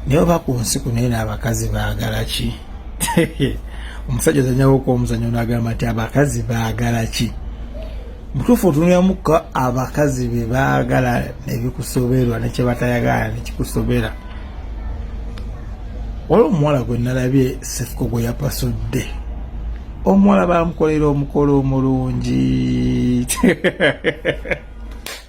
naye oba ku nsi kunaye n'abakazi baagala ki omusajja ozanyawoko omuzanyo nagamba nti abakazi baagala ki mutuufu otunulamuko abakazi be baagala nebikusoberwa nekyebatayagala nekikusobera waliwo omuwala gwe nalabye sefuko gwe yapasudde omuwala bamukolera omukolo omulungi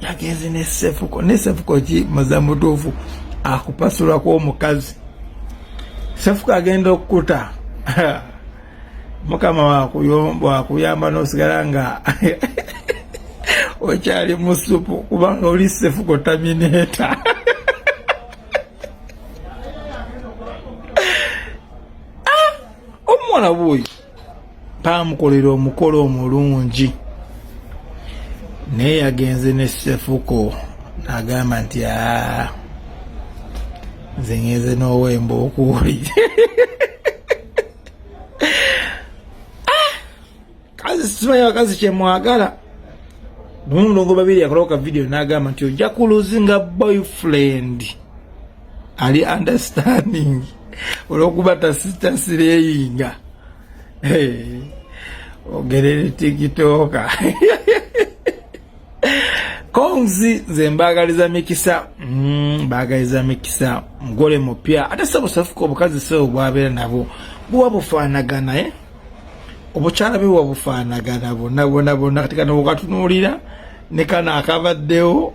yagenze ne sefuko ne sefuko ki muzamutuufu akupasulako omukazi sefuko agenda okukuta mukama wakuyamba nosigala nga okyali musupu kubanga oli sefuko tamineta ah, omwana buyi baamukolera omukolo omulungi naye yagenze ne sefuko agamba nti aa nze ngenze n'owemba okuuli ah! kazi simanyi bakazi kyemwagala nomulongo babiri yakolawo ka vidiyo n'agamba nti ojja kuluzi nga boyfriend ali understanding olwokuba tasitasireyinga hey, ogerere tikitoka konzi nze mbagaliza mikisa mm, mbagaliza mikisa mugole mupya ate sabusafuka obukazi sebo bwabeera nabo buwa bufaanagana eh? obukyala bwe wabufaanagana bona bona bona kati kano wokatunuulira ne kano akabaddewo